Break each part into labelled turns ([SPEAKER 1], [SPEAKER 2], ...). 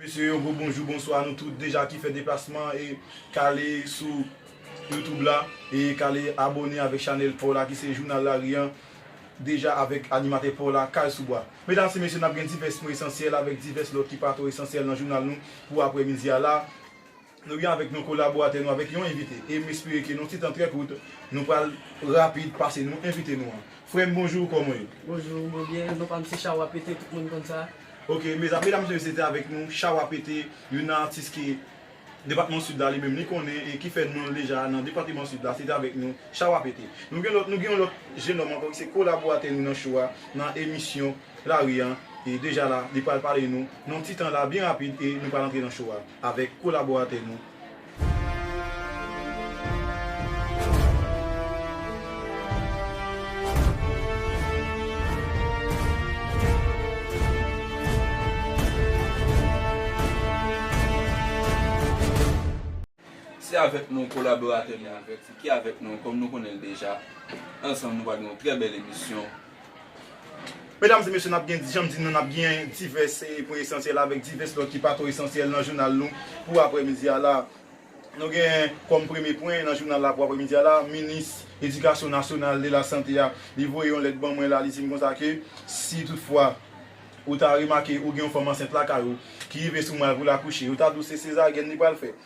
[SPEAKER 1] Mesye yo gwo bonjou bonswa nou tout deja ki fè deplasman e kale sou youtube la e kale abone avèk chanèl paw la ki se jounal lari an deja avèk animatè paw la kay sou bwa. Medam se mesye nap gen divès pwen esansyèl avèk divès lòt ki pa twò esansyèl nan jounal nou pou aprè midi a la. Nou gen avèk nou kolaboratè nou avèk yon envite e m espere ke nan yon ti tan trè kout nou pral rapid pase nou envite nou an. Frè m bonjou kòman w ye? Bonjou, mwen byen, non
[SPEAKER 2] pa m se Chawa Pete tout moun konn sa. Ok, medam e
[SPEAKER 1] mesye se te avèk nou Chawa Pete, youn nan atis ke depatman Sid la li menm li konnen e ki fè non l deja nan depateman Sid la, se te avèk nou Chawa Pete. Nou gen lòt, nou gen yon lòt jenòm ankò ki se kolaboratè nou nan show a, nan emisyon lari an e deja la li pral pale nou nan yon ti tan la byen rapid e nou pral antre nan show a. avèk kolaboratè nou.
[SPEAKER 3] Se avèk nou kolaboratè nou ki avèk nou kòm nou konnen l deja. Ansanm nou pral gen yon trè bèl emisyon.
[SPEAKER 1] Medam e mesye nap gen janm di nou nap gen divès pwen esansyèl avèk divès lòt ki pa twò esansyèl nan jounal nou pou aprè midi a la. Nou gen kòm premye pwen nan jounal la pou aprè midi a la, minis edikasyon nasyonal e lasante a li voye yon lèt ban mwen la li dim konsa ke si tout fwa ou ta remake ou gen yon fanm ansent lakay ou ki rive sou mal pou l akouche yo ta di w se sezaryen li pral fè.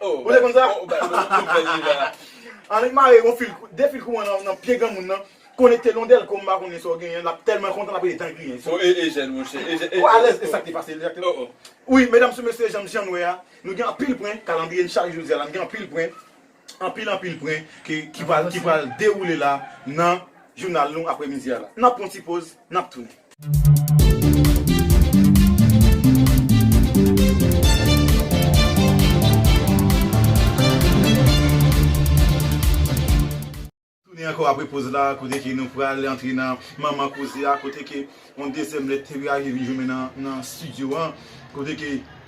[SPEAKER 1] Ou te konn sa? Annik mare yon fil, 2 fil kouran nan pye granmoun nan, konekte l yon dèlko m pa konnen sa w genyen, l ap tèlman kontan l ap rele dan griyen. O e Ejèn mon chè, Ejèn, Ejèn. Ou
[SPEAKER 3] alèz e sa k te
[SPEAKER 1] pase l o o. Wi, medam sou mesye jan m jan n wè a, nou gen anpil pwen, kalandriye n chage jodi a la, n gen anpil pwen, anpil anpil pwen ke ki pral ki pral dewoule la nan jounal nou apremidi a la. N ap pran yon ti poz, n ap tounen. Tounen ankò apre poz la kote ke nou pral antre nan manman koze a kote ke yon dezyèm lèt te reyaji vin jwenmen nan studio an kote ke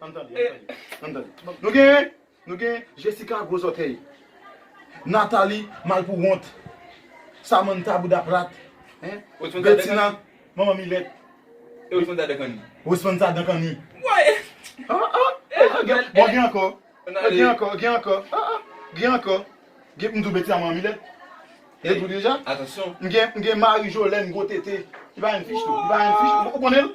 [SPEAKER 1] Ann tande, ann tande, ann tande. Nou gen, nou gen Jessica gwo zòtèy, Nathalie mal pou wont, Samantha bouda plat, Bettina manman milèt. E
[SPEAKER 3] Rosmantha
[SPEAKER 1] dan kanni.
[SPEAKER 3] Rosmantha dan kanni.
[SPEAKER 1] Woy! Ah
[SPEAKER 3] ah!
[SPEAKER 1] Bon gen ankò, gen ankò, gen ankò, ah ah, gen ankò. Gen m di w Bettina manman milèt. Mwen di w deja. Atansyon. M gen, m gen
[SPEAKER 3] Marie
[SPEAKER 1] Jolène gwo tete. Li pa yon fich tou, li pa yon fich. Ou konnen l?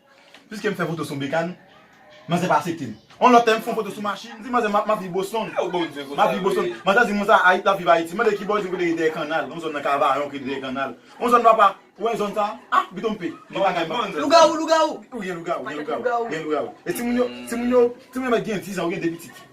[SPEAKER 1] Piske m fè foto sou bekàn, manzè pa asepte m. On lòt tè, m fè yon foto sou machin, m di manzè m ap viv Boston. Manzè di m konsa, Ayiti, l ap viv Ayiti. M mande ki bò, l di m kote ki dèyè kannal, yon zòn nan Kavayon ki rele dèyè kannal. On zòn papa, ou wè zòn sa a? A, m pito m pe. Gen bagay m pa konn. Lougawou,
[SPEAKER 2] lougawou! Wi, gen lougawou,
[SPEAKER 1] gen lougawou, gen lougawou. E timoun yo, timoun yo, timoun yo mèt gen dizan, yo gen de pitit.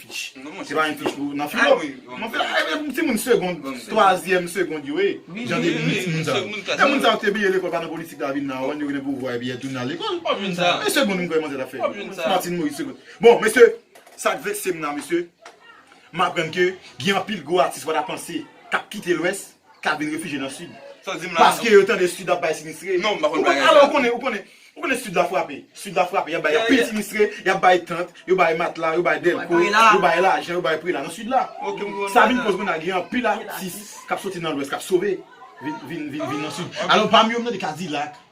[SPEAKER 1] Pich. Non monchè. Se pa yon pich pou nan filo. Awi. Mwen fè a yon ti moun segond. Twazyèm segond yo ye. Wi. Jan de moun ti moun sa. Moun sa. Moun sa te bliye lekòl pa nan politik la vin nan wè yo gen pou vwa epi yo tounen al lekòl. Wap jwenn sa. E segond moun kwè manzè ta fè. Wap jwenn sa. Martine Moise segond. Bon mesye sak vekse m nan mesye m aprann ke gen anpil gwo atis wata panse kap kite lwès. ka vin refije nan sid paske yo tande sid ap bay sinistre alò ou
[SPEAKER 3] konnen ou konnen
[SPEAKER 1] ou konnen sid la frape sid la frape yap bay anpil sinistre yap bay tant yo bay matla yo bay dèlko yo bay lajan yo bay prela nan sid la sa vin koz kounye a gen anpil atis kap soti nan lwès kap sove vin vin vin nan sid alò pami yo m tande kadilak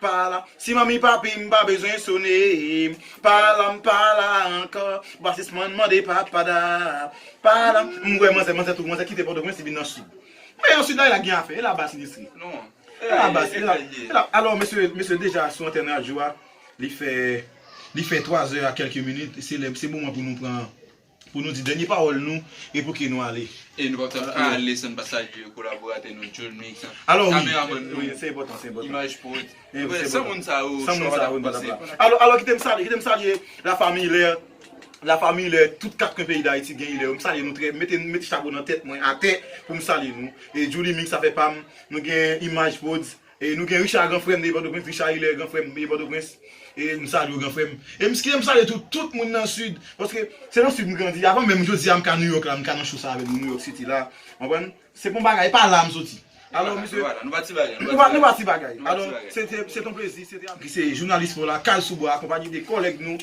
[SPEAKER 1] Pa la, si manmi papi m pa bezwen sone m pa la m pa la ankò Basis man mande papa da Pa la, m wè manzè manzè tou manzè kite pòtoprens li vin nan sid
[SPEAKER 3] Men
[SPEAKER 1] yon sid la e la gen afè e la ba sinistre E la ba e la e la Alò mesye mesye deja sou antèn radyo a li fè li fè 3 zè a kèlke minit se lè se moman pou nou pran Pou nou di dènye pawòl nou e pou ke nou ale. E nou pap ta ka
[SPEAKER 3] ale san n pa salye kolaboratè nou Jolny, kameramann
[SPEAKER 1] nou, Imaj Prod.
[SPEAKER 3] San moun sa
[SPEAKER 1] yo, chou a pa ta posib. Alò kite m salye, kite m salye la famiy lè, la famiy lè tout kat kwen peyi Dayiti gen ilè yo. M salye nou trè, mete mete chapo nan tèt mwen atè pou m salye nou. E Jolly Mix afè pa m, nou gen Imaj Prodz, E nou gen Richard gran frèm de pòtoprens Richard Hilaire gran frèm de pòtoprens e m salye w gran frèm e m ske m salye tou tout moun nan sud paske se nan sud m grandi avan menm jodi a m ka Nouyòk la m ka nan show sa avèk nou Nouyòk city la w konprann se bon bagay e pa la m soti alò mesye nou pa ti bagay nou pa ti bagay alò se te se te yon plezi se te yon plezi ki se jounalis paw la kal sou bwa akonpanye de kòlèg nou.